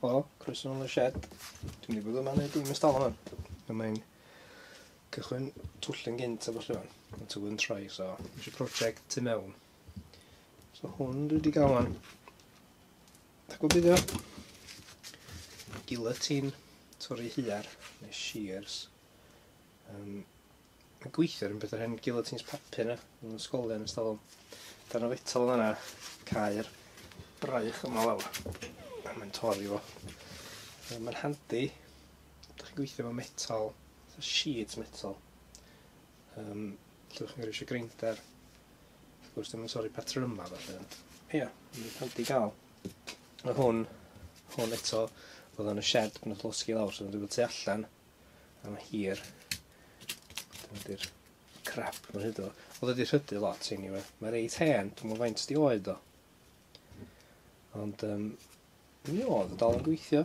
Helo, croeso nôl yn y shed. Dwi'n mynd i fod yma wneud dim ystafell hwn. Dwi'n mynd cychwyn twll yn gynt a falle fan. Mae'n tywydd yn troi, so eisiau prosiect tu mewn. So hwn dwi wedi gael fan. Da gwybod beth yw? Guillotine, torri hiar, neu shears. Um, yn gweithio rhywbeth o'r hen guillotines papur na, yn y sgolion yn stafell. Dan o fetal yna, cair braich yma lawr, a mae'n torri fo. Mae'n handi, da chi'n gweithio efo metal, fatha sheet metal. Um, lle chi'n gyrru grinder. Wrth gwrs, dwi'n torri patrwm yma, felly. Ie, yeah, mae'n handi gael. Mae hwn, hwn eto, oedd yn y shed, mae'n llosgi lawr, so dwi'n dweud tu allan. am hir. Dyma di'r crap ma hyd o. Oedd wedi rhydu lot i ni we. Mae reit hen, dwi'n mwyn faint di oed o. Ond um, mi oedd y dal yn gweithio.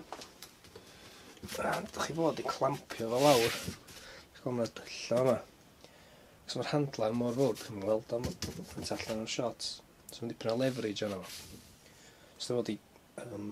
Rhan, dych chi fod i clampio fo lawr. Dych chi'n gweld dylla yma. Cos mae'r handler mor fawr, dych chi'n gweld am faint allan o'r shots. So mae'n dipyn o leverage arno fo. So dych chi'n fod i um,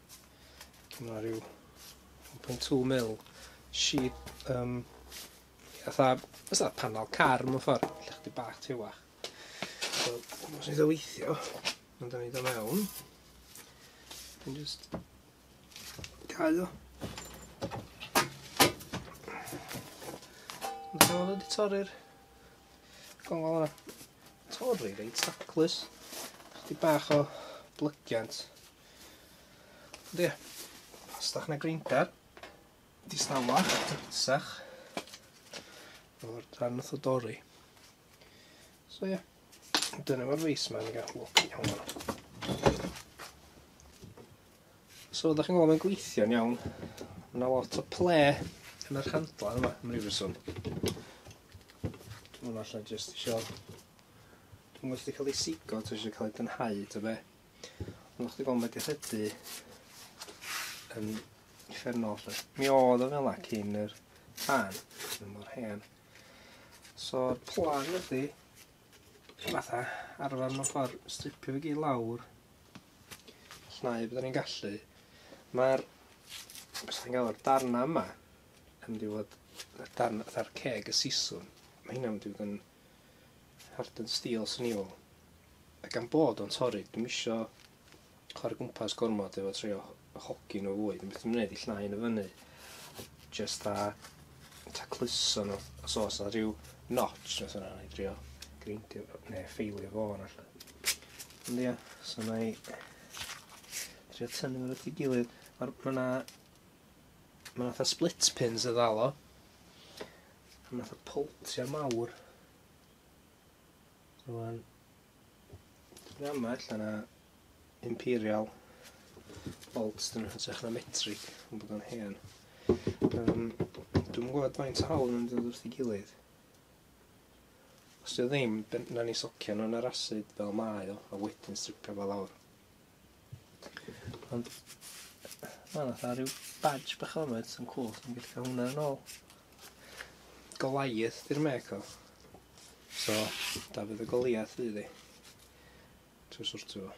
Mae yna rhyw 1.2 mil sheet, um, fatha, fatha panel car mewn ffordd, lle chdi bach tewach. So, os ni'n ddeweithio, ond da ni do mewn, dwi'n just cael o. Ond dwi'n meddwl wedi torri'r gongol yna. Torri reit taclus. Chdi bach o blygiant. Ond ie, os da chi'n y greindar, distawa, dysach, o'r dan nath o dorri. So ie, dyna fo'r reis ma, ni gael lwc iawn yno. So da chi'n gweld mae'n gweithio'n iawn, mae yna lot o ple yn yr handla yma, yn rhyw reswm. Dwi'n allan jyst eisiau... Dwi'n gwybod cael ei sigo, dwi'n eisiau cael ei dynhau, ta be. Ond o'ch di gweld mae di rhydu yn effernol lle. Mi oedd o fel cyn yr pan, yn mor hen. So'r plan ydi, fatha, arfer mewn ffordd, stripio fi gyd lawr, llnau byddwn ni'n gallu. Mae'r, beth sy'n gael o'r darna yma, yn mynd i fod, darn, fatha'r ceg y siswn, mae hynna'n mynd i fod yn Harden Steel swn i fel. A gan bod o'n torri, dwi'm isio chwarae gwmpas gormod efo trio hogi nhw fwy. Dwi'n methu mynd i llnau yn y fyny. Just a tacluso nhw. Os oes na rhyw notch, os yna i drio grindio neu ffeilio fo yna lle. Ond ia, so na i trio tynnu nhw at ei gilydd. Mae yna... Mae yna split pins y ddalo. Pan nath y poltia mawr. Rwan. Dwi'n am allan a imperial bolts dyn nhw'n hytrach na metric yn bod o'n hen. Um, dwi'n gwybod faint hawl yn dod wrth ei gilydd. Os yw ddim, na ni socio nhw'n yr asid fel mae o, a wedyn stripio fel awr. Ond, mae'n fatha rhyw badge bach o'n oed, sy'n cool, sy'n gallu cael hwnna yn ôl. Goliath di'r mec o. So, Dafydd y Goliath fydd i. Trwy sortio fo.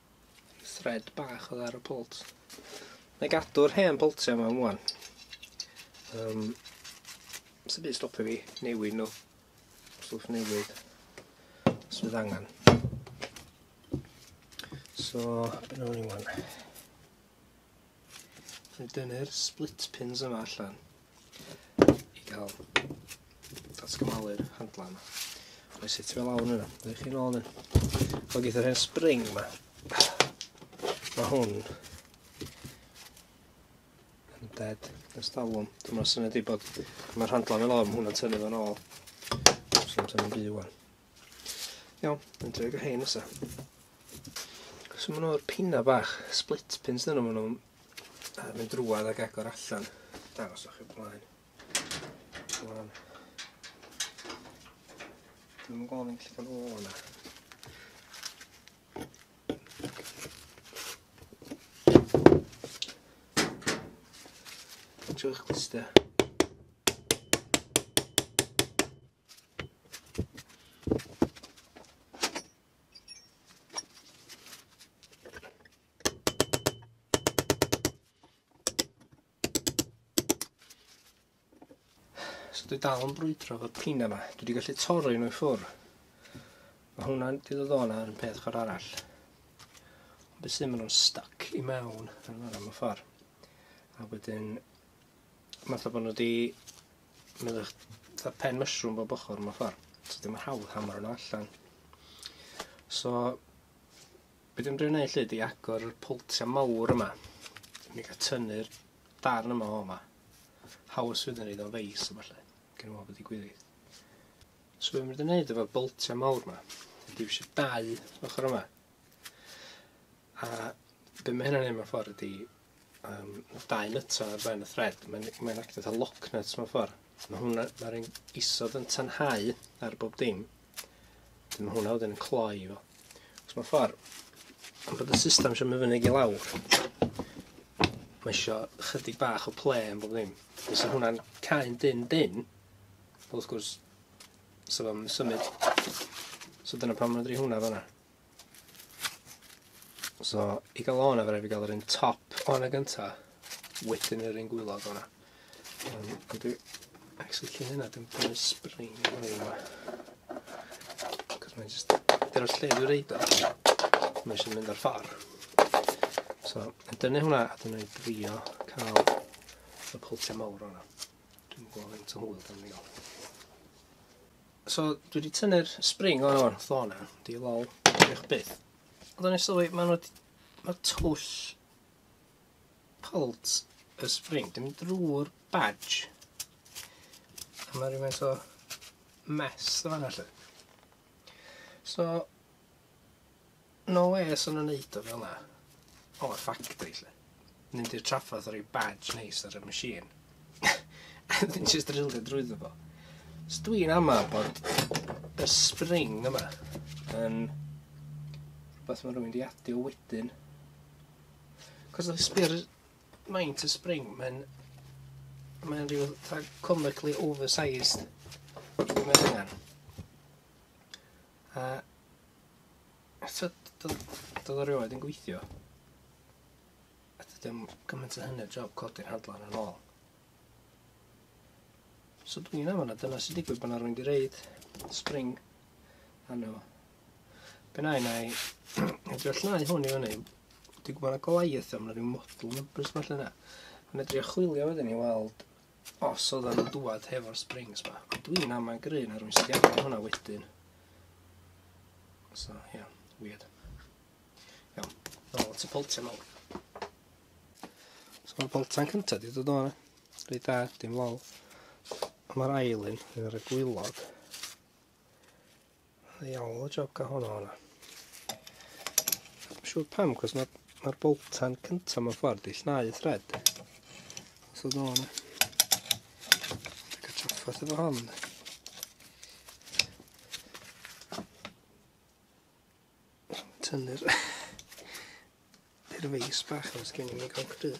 Thread bach oedd ar y pwlt. Na i gadw'r hen pwltiau yma am wan. Um, Sy'n byd stopio fi newid nhw. Stwff newid. Os bydd angen. So, beth nhw'n i wan. Dwi'n dynnu'r split pins yma allan i gael datgymalu'r handla yma. Mae'n sut fel awr yna, dwi'n chi'n ôl yn. Fo gyda'r hen spring yma. Mae hwn yn dead yn stalwm. Dwi'n meddwl syniad i bod mae'r handla fel awr, mae hwnna'n tynnu fo'n ôl. Dwi'n tynnu'n byw o'n. Iawn, yn drwy gyda rhein nesa. So maen nhw'r pina bach, split pins dyn nhw, maen nhw'n uh, mynd drwad ac agor allan. Dangos o'ch i'n blaen. Blaen. Dwi'n mynd gofyn lle gan ôl yna. Trwy'ch glyster. So dwi dal yn brwydro fod pina yma. Dwi wedi gallu torri nhw i ffwr. Mae hwnna'n wedi dod o'n ar yn peth chwr arall. Ond beth sy'n mynd o'n stuck i mewn yn fan am y ffordd. A wedyn Fatha bod nhw wedi mynd â'ch fatha pen mushroom bob ochr mewn ffordd. So dim yn hawdd hammer nhw allan. So, be dwi'n drio wneud lle di agor y poltiau mawr yma. Mi gael tynnu'r darn yma o yma. Haws fydd yn ei o'n feis yma lle. Gen i meddwl bod i gwirith. So be dwi'n dweud efo'r boltiau mawr yma. Dwi'n eisiau dau ochr yma. A be mae hynna'n ei mewn ffordd ydy, um, dau nyto ar ben y thread, mae'n mae actio fatha lock nut mewn ffordd. Mae hwnna, mae'r un isod yn tanhau ar bob dim, dyma mae hwnna wedyn yn cloi fo. Os mae'n ffordd, am bod y system eisiau mynd fyny i lawr, mae eisiau chydig bach o ple yn bob dim. Os yw hwnna'n cael dyn dyn, wrth gwrs, so fo'n symud. So dyna pan mae'n dri hwnna fanna. So, i gael o hwnna, fe rhaid fi gael yr un top o hwnna gynta, wedyn yr un gwylod o hwnna. Ond dwi actually cyn hynna, dwi'n prynu spring i hwnna yma. Cos mae'n just, dyna'r lle dwi'n reid o, mae eisiau mynd ar ffordd. So, yn dynnu hwnna, a dwi'n ei drio cael y pwltiau mawr o hwnna. Dwi'n gwybod faint o hwyl dwi'n ei gael. So dwi wedi tynnu'r spring o'n o'r flo na, di lol, diolch byth. Ond o'n i'n sylwi, mae nhw... Mae twll palt y spring, dim drwy'r badge. A mae rhywbeth o mess o fanna lle. So, No wê sa nhw'n neud o fel'na. O y ffactri 'lly. Mynd i'r traffarth a roi badge neis ar y machine. a wedyn jyst drilio drwyddo fo. Os dwi'n ama bod y spring yma yn rhywbeth mae rhywun di adio wedyn. Cos oedd sbio'r maint y spring, mae'n mae'n rhyw fatha comically oversized. Dwi'n meddwl hynna. A Eto d- d- do'dd o rioed yn gweithio. A dydi o'm gymaint a hynny o job codi'r handle yna'n ôl. So dwi yn amal a dyna sy'n digwydd pan arwain di reid spring arno fo. Be na i na i edrych llnau hwn i fyny. Dwi'n gwybod na Goliath am na rhyw model numbers falle na. Yn edrych chwilio wedyn i weld Os oddan nhw'n dŵad hefo'r springs ma. Ond dwi'n am mae'n gry na rwy'n sydd iawn ar hwnna wedyn. So, ie, yeah, weird. Iawn, nôl at y poltiau nôl. So mae'r poltan cyntaf di dod o'n rhaid da, dim lol. Mae'r ail un, yn rhaid gwylog. Iawn, o joca hwnna hwnna. Mae'n siŵr pam, cos mae'r ma boltan cyntaf mewn ffordd di llnau y thred. Os oedd nhw'n... Ac y traffath efo hon. Tynnu'r... Dy'r feis bach o'r sgyn i'n ei gael cryd.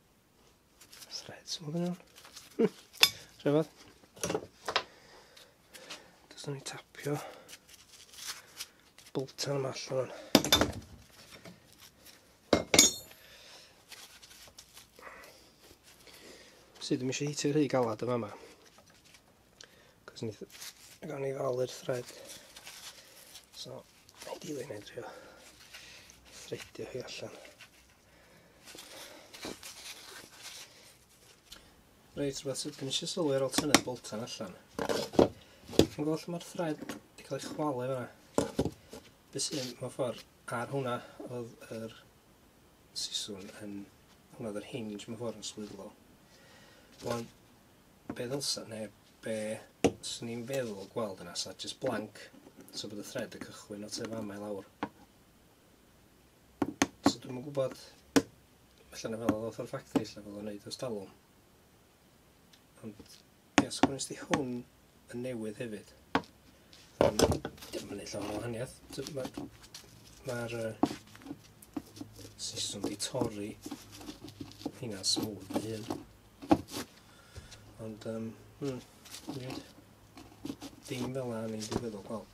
Threads, mae'n gwneud nhw'n. Rhyfedd. Does ni tapio boltan yma allan. Sydd ddim eisiau hitio rhy galad yma yma. Cos ni gan i ddal yr thread. So, ideally neu drio threadio hi allan. Reit, rhywbeth sydd gen i eisiau sylwi ar ôl tynnu'r boltan allan. Chi'n gweld lle mae'r thread wedi cael ei chwalu fyna? Be sy'n mewn ffordd ar hwnna oedd yr siswn yn hwnna oedd yr hinge mewn ffordd yn swyddlo. Rwan, be ddylsa, neu be sy'n ni'n feddwl gweld yna, sa just blank, so bod y thread yn cychwyn o tu fama i lawr. So dwi'm yn gwybod, allan fel oedd o'r ffactri, allan fel o'n neud o'r stalwm. Ond, ie, os gwnes di hwn yn newydd hefyd, dim yn ei llawn o wahaniaeth. Mae'r ma uh, siswm di torri hynna'n smwth na hyn. Ond, um, hmm, dim fel yna ni'n digwydd o gweld.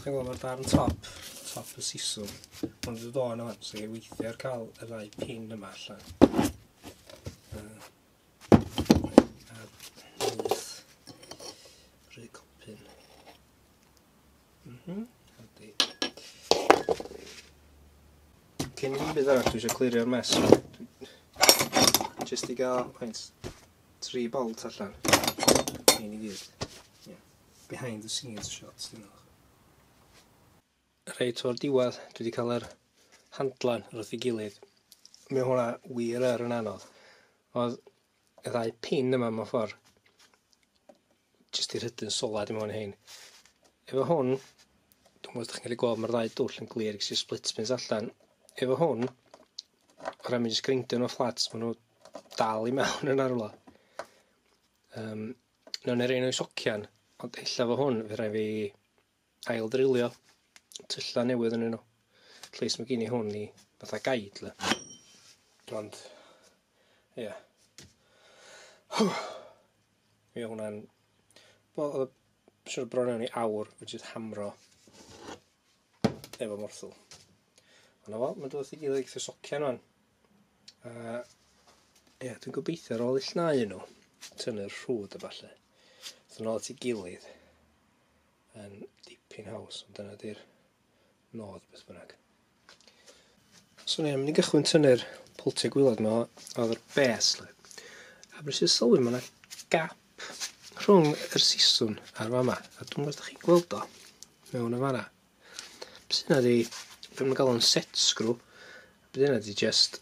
Chi'n gwybod mae'r darn top, top y siswm, ond wedi dod o'n yma, so i'n weithio ar cael y ddau pin yma allan. Rhaid copyn. Mhm, hadi. Cyn i mi bydd arall, dwi eisiau clirio'r mes. Just i gael, pwynt, tri bolt allan. Ein i gyd. Yeah. behind the scenes shots dwi'n meddwl. Reit o'r diwedd, dwi wedi cael yr handlan wrth ei gilydd. Mae hwnna wir yr yn anodd. Oedd y ddau pin yma mewn ffordd jyst i rhydyn solad i mewn hyn. Efo hwn, dwi'n meddwl ydych chi'n cael gweld mae'r ddau dwll yn glir gyda'r split pins allan. Efo hwn, o ran mynd i sgrindio nhw fflat, maen nhw dal i mewn yn arwla. Um, Nawn ni roi nhw i socian. Ond ella fo hwn, fe rhaid fi ail ddrilio tyllau newydd yn nhw. At least mae gen i hwn i fatha gaid le. Ond, ie. Yeah. Ie, hwnna'n... Wel, oedd y siwr bron iawn i awr, fe jyst hamro efo morthwl. Ond o, mae'n dod i gilydd eitha socian o'n. Uh, Ie, yeah, dwi'n gobeithio ar ôl ill nau nhw, tynnu'r rhwyd a falle. Dwi'n ôl at ei gilydd yn dipyn haws, ond dyna di'r nod beth bynnag. So ni, mynd i gychwyn tynnu'r pwltiau gwylod yma oedd yr bes. Le. A beth sy'n sylwi, mae yna gap rhwng yr siswn a'r fama. A dwi'n gwybod chi'n gweld o mewn y fanna. Beth yna di... Be maen nhw'n galw fo'n set screw. Beth yna di just...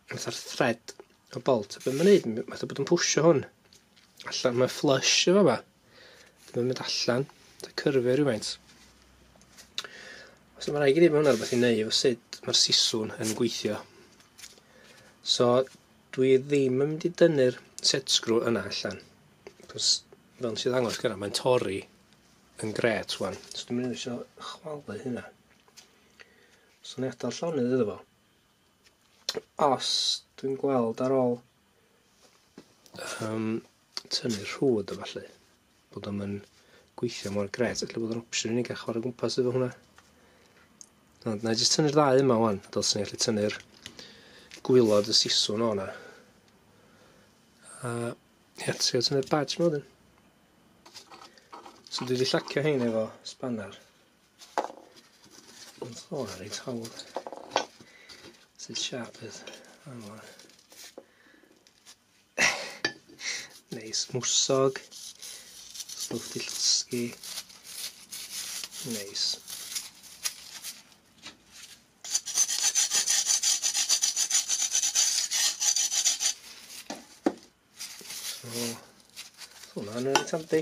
Fatha'r thread o bolt. Be maen nhw'n neud, fatha bod yn pwysio hwn. Allan, mae flush efo fa. Mae'n mynd allan. Da cyrfio rhywfaint. So mae'n rhaid i ni bod hwnna rhywbeth i neud efo sut mae'r siswn yn gweithio. So dwi ddim yn mynd i dynnu'r set screw yna allan. Cos fel nes i ddangos gyda, mae'n torri yn gret wan. So dwi'n mynd eisiau chwalu hynna. So ni adael llonydd iddo fo. Os dwi'n gweld ar ôl um, tynnu rhwyd o falle, bod o'n mynd gweithio mor gret, felly bod o'n opsiwn i ni gael chwarae gwmpas efo hwnna. Ond na i jyst tynnu'r ddau yma wan, fel sy'n gallu tynnu'r gwylod y siswn o'na. A ie, trio tynnu'r badge yma wedyn. So dwi wedi llacio hein efo spanner. Ond o, na reit hawdd. Sut siap fydd? Anwa. Neis, mwsog. Stwff di llosgi. Neis. So, hwnna'n rhaid tamdi.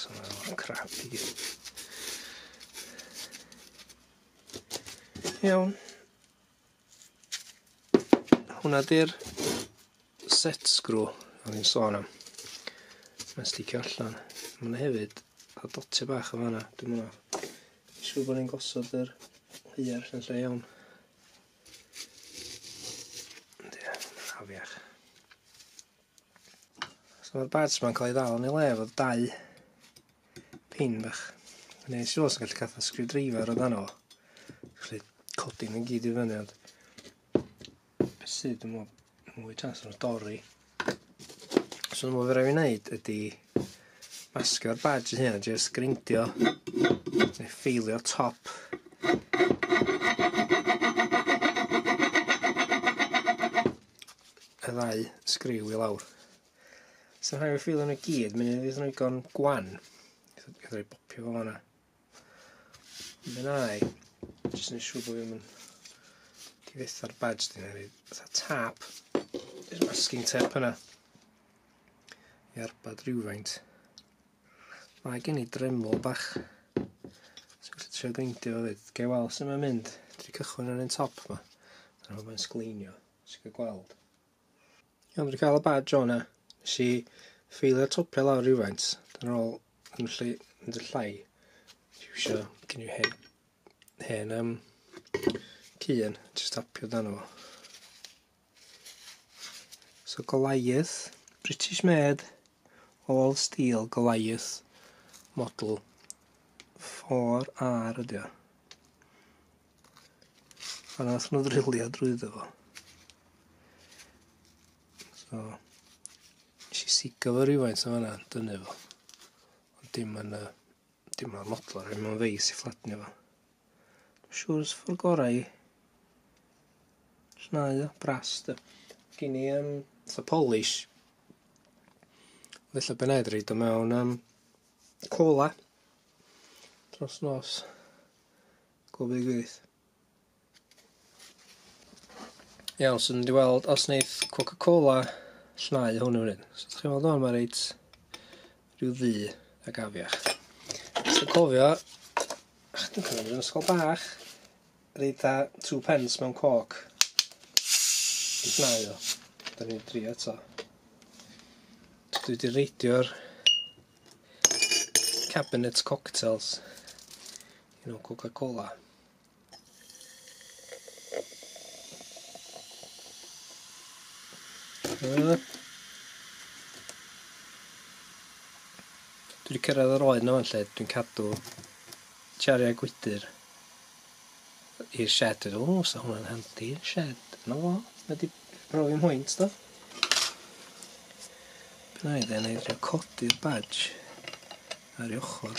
So, mae'n crap i gyd. Iawn. Hwna di'r set screw o'n i'n sôn am. Mae'n sticio allan. Mae'n hefyd a dotio bach o fanna. Dwi'n mwyn siŵr bod ni'n gosod yr hwyr yn lle iawn. Afiach. So mae'r barts ma'n cael ei ddal yn ei le efo dau pin bach. Yn ei siwr sy'n gallu cael fatha screwdriver o dan o. Felly codi nhw'n gyd i fyny ond... Sydd yn meddwl Mwy chance o'r dorri. So dyma fe rai fi wneud ydy masio'r badge hyn a jyst grindio neu ffeilio top y ddau sgriw i lawr. So rhaid fi ffeilio nhw gyd, mynd i ddweud nhw'n gwan. Rhaid fi bopio fo fanna. Dyna i. Jyst yn siŵr bod fi'n mynd i fyth ar badge dyn nhw. Fytha tap. Yr masking tape yna. I arbad rhywfaint. Mae gen i dremlo bach. Sy'n gallu trio geindio fo fyd. Gai weld sy'n mynd. Dwi cychwyn ar un top yma. Dyna fo mae'n sgleinio. Sy'n cael gweld. Iawn, dwi 'di ca'l y badge o hwnna. Nesh i ffeilio'r topia lawr rywfaint. Dyna ôl yn lle mynd y llai. Iwsio gen i hen hen yym cyn jyst tapio dan o. So Goliath, British made, all steel Goliath model 4R ydi o. A nath nhw ddrilio drwyddo fo. So, nes i sigo fo rhywfaint o fanna, dynu fo. Ond dim yn y... dim yn modlo, rhaid mewn feis i fflatnio fo. Dwi'n siŵr os ffordd gorau i... Llnau o, bras dy. Gyn i um, fatha polish. Felly ben aed reid o mewn um, cola. Dros nos. Global Youth. Iawn, so mynd i weld os wneith Coca-Cola llnau hwn yn fryd. So chi'n weld o'n mae reit rhyw ddu ac afiach. So cofio, ach, dwi'n cofio yn ysgol bach, reit a two pence mewn coc. Yn llnau o. Da ni'n dri eto. So dwi wedi reidio'r cabinet cocktails. Un o Coca-Cola. Dwi wedi cyrraedd yr oed na fan lle dwi'n cadw chariau gwydr i'r shed ydw. O, sa hwnna'n handi yn shed. No fo, mae wedi profi mwynt do. Beth na i dde'n ei drio codi'r badge ar ei ochr.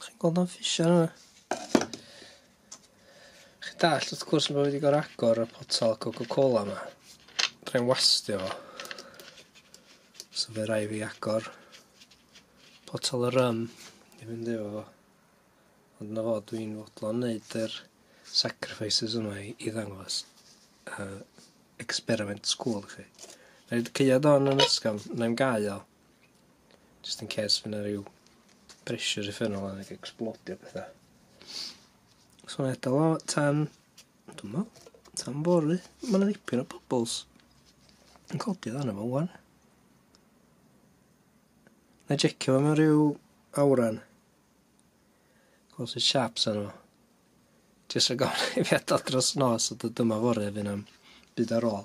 Chi'n gweld o'n fisio yna? Chi'n dallt wrth gwrs bo' fi 'di gor'o' agor y potel Coca Cola 'ma. Fedrai'm wastio fo. So by' rai' fi agor potel y rym i fynd efo fo. Ond 'na fo dwi'n fodlon neud yr sacrifices yma i i ddangos yy experiment school i chi. Neud caead hon yn ysgafn 'nai'm gau o. Just in case fy' 'na ryw bressure uffernol a ecsblodio petha. So ma' eto o tan dw'mo tan fory. Ma' 'na ddipyn o bubbles yn codi lan yma ŵan. Nâi jecio fo mewn ryw awran. Gwel' sut siâp sa fo. Jyst rhag ofn i fi adal dros nos a dod yma fory a fy' 'na'm byd ar ôl.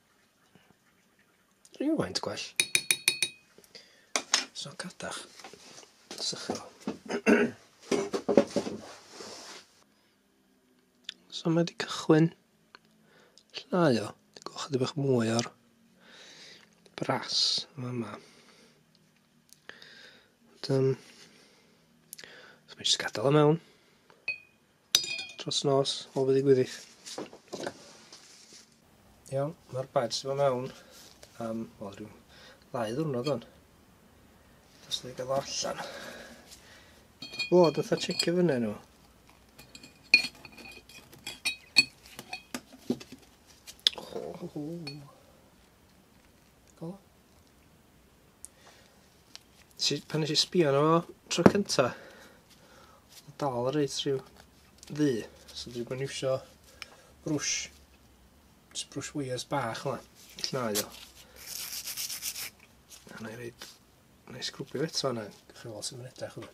Rhywfaint gwell. So cadach. Sycho. so mae wedi cychwyn llnau o. Gwch ydy bach mwy o'r bras yma yma. Ond, um, so mae jyst gadael o mewn. Tros nos, o fyddi gwyddydd. Iawn, mae'r badge yma mewn am, wel, rhyw ddau ddwrnod o'n. Dos dwi'n gael allan. O, dwi'n dda checio fyny nhw. Oh, oh, oh. Si, pan nes i sbio arno fo tro cynta, dal reit rhyw ddu. So dwi'n gwneud iwsio brwsh, just brwsh wires bach yma, llnau o. A na i reid, na i sgrwbio eto yna, gwych chi weld sy'n mynd edrych yma.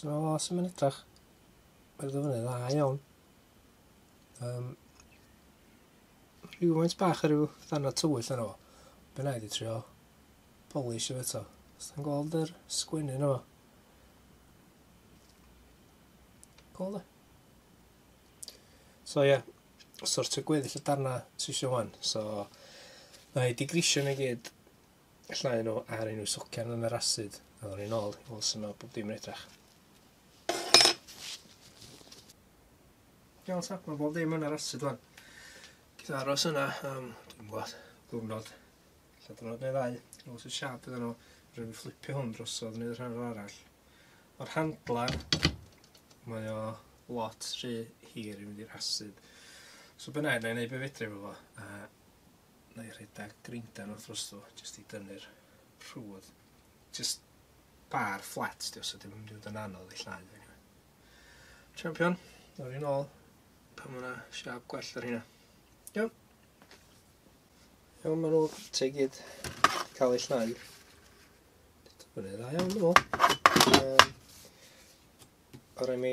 So, os ymwneud edrach, mae'r ddyfynu dda iawn. Um, rhywfaint bach ar ryw ddanna tywyll yno. Be na i di trio polish efo eto. Os ti'n gweld yr sgwennu yno. Cool da. So ie, yeah, sortio gweddill y darna ti eisiau wan. So, na i di grisio na gyd Llaen o ar unrhyw socian yn yr asid. A ddod i'n ôl, fel sy'n meddwl bod dim yn edrach. Iawn ta, mae bob dim yn yr asid fan. Gyda aros yna am, dwi'n gwybod, gwrnod. Lle dynod neu ddau, fel sy'n siap iddyn nhw. Rwy'n fflipio hwn drosodd neu rhan o'r arall. O'r handler, mae o lot rhy hir i fynd i'r asid. So bynnag, na i wneud beth fedri fo fo. A Wna i rhedeg grinder wrth rwstw jyst i dynnu'r rhwdd. Jyst bar fflat di os ydym yn mynd i fod yn anodd i llai. Champion, nawr i'n ôl. Pan mae'na siap gwell ar hynna. Iawn. Iawn, maen nhw te gyd cael ei llnau. Dwi'n fyny dda iawn, dwi'n meddwl. Um, o rai mi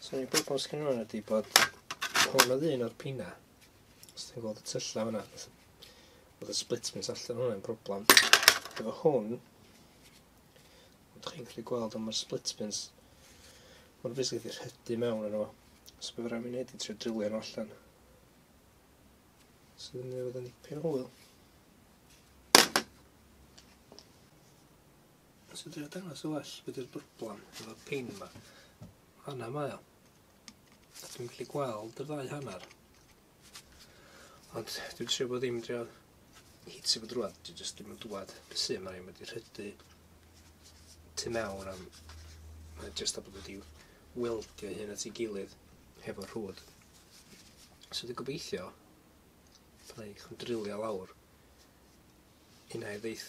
So ni'n gwybod bod sgyn nhw'n ydy bod hwn oedd un o'r pina. Os ti'n gweld y tyllau hwnna, oedd y split pins allan hwnna'n broblem. Efo hwn, ydych chi'n gallu gweld ond mae'r split pins, mae'n basically wedi rhydu mewn yno. So bydd rhaid mi wneud i trio drilio nhw allan. So ddim newid yn dipyn o hwyl. Os fedri o dangos yn well be' 'di'r broblam efo pain 'ma. Fana mae o. Dwi'm gallu gweld y ddau hannar. Ond dwi trio bod ddim trio hitio fo drwadd dwi jyst dim yn dwad be' sy mae ma' 'di rhydu tu mewn am mae jyst a bod wedi weldio hyn at ei gilydd hefo rhwd. So dwi gobeithio byddai chi'n drilio lawr unai ddeith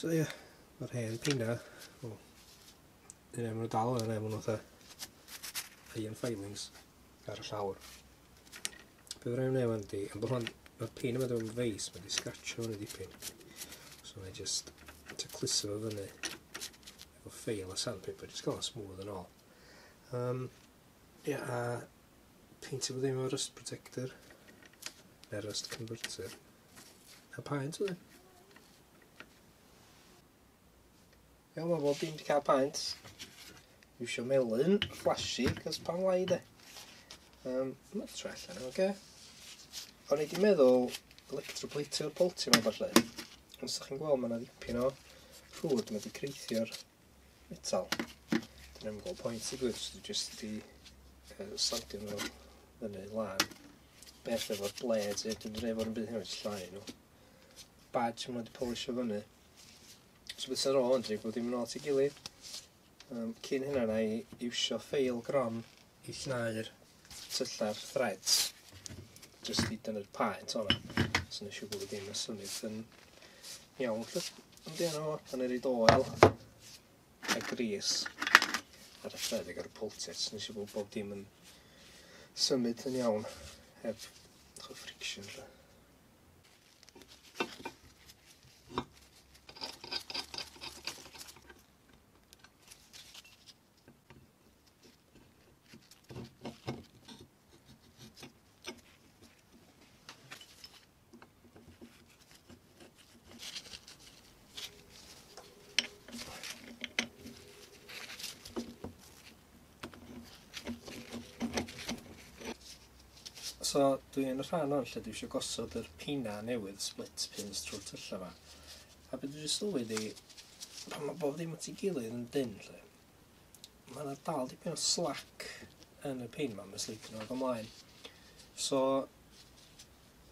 So ie, mae'r hen pina, o, yn ei mwyn dal yn ei mwyn oedd ei yn filings ar y llawr. Be fydd rhaid wneud fan di, am bod hwn, mae'r pin yma dwi'n feis, mae'n di scratcho hwn i dipyn. So mae'n just to cluso fo fyny efo ffeil a sandpaper, just gael o'n smooth yn ôl. Um, yeah, a peintio bod ddim o'r rust protector, neu'r rust converter, A paent oedd e? Iawn, mae bob dim wedi cael paent. Dwi eisiau melyn, flashy, cos pan lai de. Um, mae'n troi allan, oce? Okay. O'n i wedi meddwl electroplateo'r bolti yma falle. Os ydych chi'n gweld, mae yna ddipyn o ffwd, mae wedi creithio'r metal. Dwi'n yn gweld pwynt i gwyd, dwi'n just di uh, sandio nhw fyny lan. Beth efo'r blades, e, dwi'n rhaid fod yn byd hynny'n llai nhw. Badge maen nhw wedi polisio fyny. So beth sy'n rôl yn dri bod dim yn ôl ti gilydd. Um, cyn hynna na i iwsio ffeil grom i llnau'r tyllar threads jyst i dynnu'r paet o'na so nes i gwybod dim y symud yn iawn lle yn dyn o pan er i doel a gris ar y thread ag ar y pultit so nes i gwybod bob dim yn symud yn iawn heb chw friction lle So dwi yn y rhan 'wan lle dwi isio gosod yr pina newydd split pins trw'r tylle 'ma. A be' dwi 'di sylwi 'di pan ma' bob dim at 'i gilydd yn dynn 'lly ma' 'na dal dipyn o slack yn y pin 'ma ma' sleipio dod o mlaen. So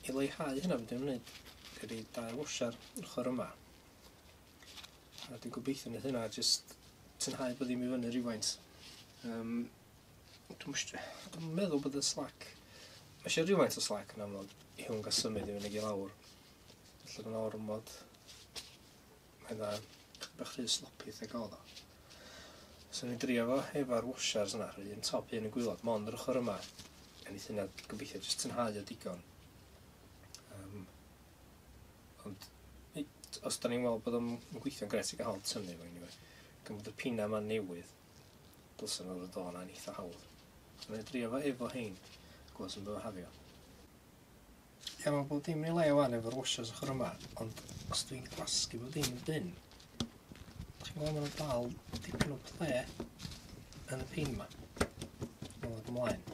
i leihau hynna be' dwi'n neud dwi roid dau washer ochor yma. A dwi'n gobeithio neith hynna jyst tynhau bob ddim i fyny rywfaint. Yym dwi'm sh- dwi'm yn meddwl bod y slack ma' isio rywfaint o slack yn amlwg i hwn ga'l symud i fyny ag i lawr. Felly mae'n ormod... Mae'n dda. Chydig bach rhy sloppy wrth ei gael o. So ni'n drio fo efo'r washers yna, rhy yn top, un yn gwylod, mond yr ochr yma. A ni sy'n gobeithio jyst tynhau o digon. Um, ond os da ni'n weld bod o'n gweithio'n gret i gael tynnu fo anyway. Gan bod y pina yma newydd, dylsyn nhw'n dod o'n eitha hawdd. Mae'n drio fo efo hein, gwas yn bydd o hafio. Ia mae bob dim yn ei le wan efo'r washers ochr yma, ond os dwi'n gwasgu bob dim yn bin, dych chi'n gweld mae'n dal dipyn o ple yn y pin yma. Mae'n dod ymlaen.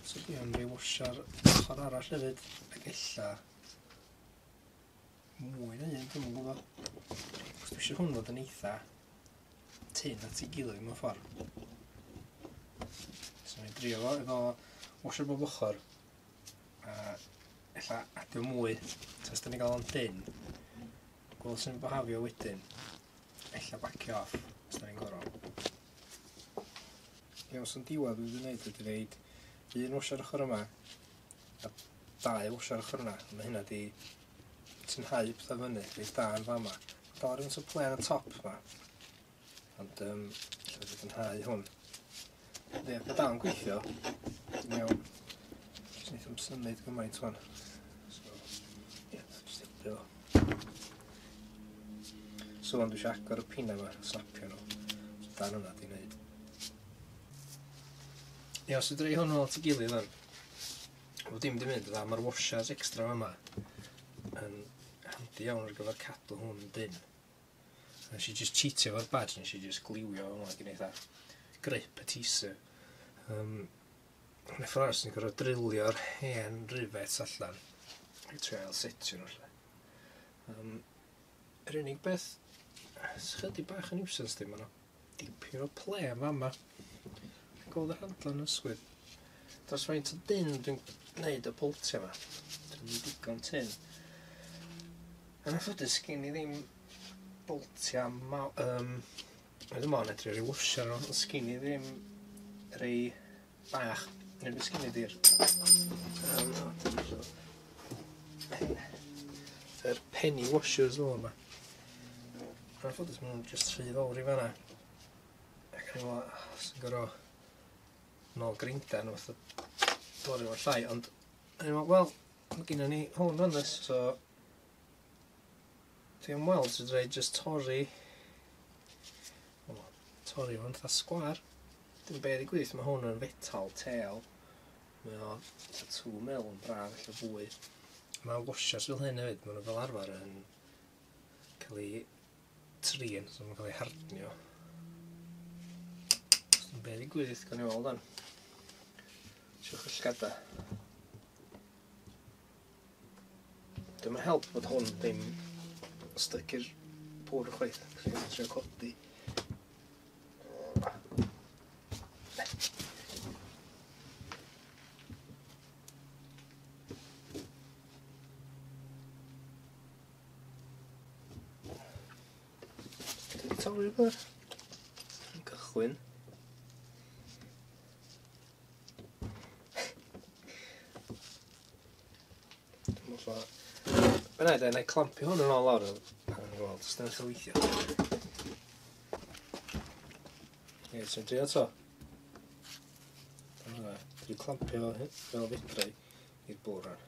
So dwi am rei washer ochr arall hefyd, ac ella mwy na un, dwi'n gwybod. Os dwi eisiau hwn fod yn eitha tun at ei gilydd mewn ffordd. So ni'n drio fo efo washer bob ochr. A ella adio mwy, tas da ni gael o'n dyn. Gweld sy'n bohafio wedyn. Ella bacio off, os da ni'n gorau. Ie, os yn diwedd dwi'n gwneud, dwi'n gwneud un washer ochr yma, a dau washer ochr yna. Mae hynna di ti'n hau pethau fyny, reit da yn fama. Dor yn sŵp len y top yma. Ond um, lle fod yn hau hwn. Ie, fe da yn gweithio. Dwi'n iawn. Jyst neith am symud gymaint hwn. So, ie, jyst helpu fo. So, ond dwi eisiau agor y pina yma, slapio nhw. So, dan hwnna di wneud. Ie, os ydreu hwnnw at y gilydd o'n. Wel dim 'di mynd yn dda ma'r washers extra yma yn handi iawn ar gyfer cadw hwn yn dynn. Nes i jyst cheatio fo'r badge nes i jyst gliwio fo ag yn eitha grip y teaser. Um, yn y ffordd sy'n gorfod drillio'r hen rivets allan i trio ail setio nhw lle. Um, yr unig beth sy'n chydig bach yn nuisance dim yna Dipyn o ple yn fama. Chi'n gweld y handle yn ysgwyd? Dros faint o dyn dwi'n gwneud y pwltio yma. Dwi'n mynd digon tyn. Yn anffodus, gen i ddim boltia ma... Um, Oedd yma yn edrych rhyw wsio nhw, ond sgyn i ddim rei Bach. Neu beth sgynny dir? Yr penny washers fel yma. Yn anffodus, maen nhw'n just rhy fawr i fanna. Ac yn ymwneud, ah, sy'n gorau nôl grinda nhw, fatha bori o'r llai, ond yn ymwneud, wel, mae gen ni hwn yn ys, so Dwi am weld os fedra i jyst torri... O, torri fo'n fatha sgwar. Dim be' ddigwydd, ma' hwn yn fetal têl. Mae o fatha two mil yn braf ella fwy. Mae washers fel hyn hefyd, maen nhw fel arfer yn cael ei trin, so maen nhw'n cael ei hardnio. Dim be' ddigwydd, gawn ni weld wan. Siwch y llgada. Dim yn help bod hwn ddim styc i'r pwr chwaith. Chos ni'n trio codi. Torri rhywbeth. Yn gychwyn. Mae'n rhaid, na i clampio hwn yn ôl lawr. Wel, jyst yn eich weithio. Ie, sy'n drio to. Dyna, dwi'n clampio fel fedrai i'r bwr ar.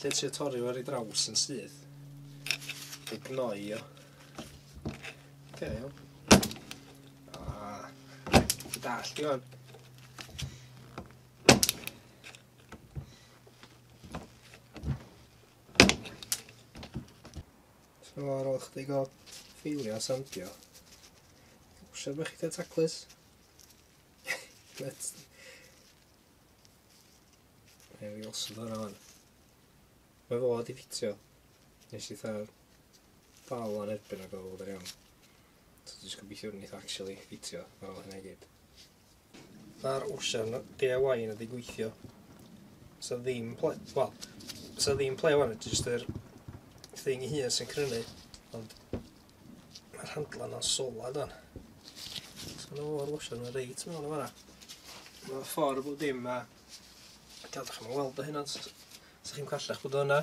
Lle ti torri fo ar ei draws yn syth. Di gnoi o. Oce, iawn. Ah, ti dall di fan. So ar ôl chdi gael ffeilio a sandio. Siarad bych chi taclus? Ie, fi os yn fanna fan. Mae fo wedi ffitio. Nes i tha'r dal ar erbyn ag oedd yn iawn. So dwi'n just gobeithio wnaeth actually ffitio ar ôl hynna i gyd. Tha'r ocean DIY yn wedi gweithio. Sa ddim ple... Wel, sa ddim ple wan, jyst yr thing ei hun sy'n crynu. Ond Mae'r handlan o'n sola dan. So na o'r washer yna reit mewn yma. Mae'n ffordd o dim a... Dal, da chi'n weld o hyn ond... Sa chi'n callach bod o yna.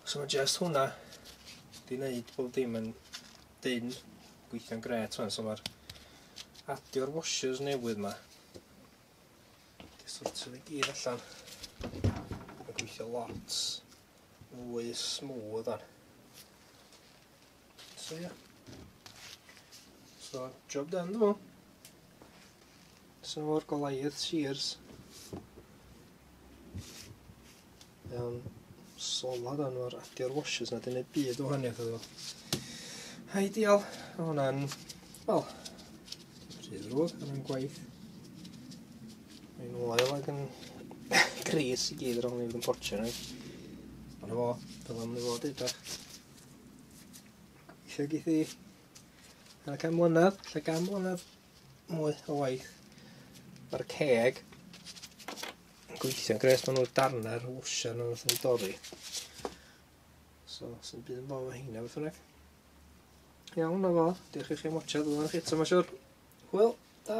So mae just hwnna di wneud bob dim yn dyn gweithio'n gret fan. So mae'r adio'r washers newydd yma. Di sortio fi gyd allan. Mae'n gweithio lots. Mwy smooth ar. So yeah. So, job done dwi meddwl. So o'r Goliath shears. Iawn, solad o'n o'r adio'r washers na, dyn byd o hynny iddo. Ideal, hwnna'n, wel, rhydd rwyd, hwnna'n gwaith. Mae'n oel ac yn gris i gyd ar ôl ni fod yn portio ni. Ond efo, dyl am ni fod i bach. Eisiau geith i ar y cam mlynedd, lle gam mlynedd mwy o waith. Mae'r ceg yn gweithio'n gres, maen nhw'r darnau, rhywbeth wsiau nhw wrth yn dorri. So, sy'n byd yn bod o hynna beth yna. Iawn, o fo, diolch i chi am watchad, dwi'n eich eto, mae'n siwr. Hwyl, da!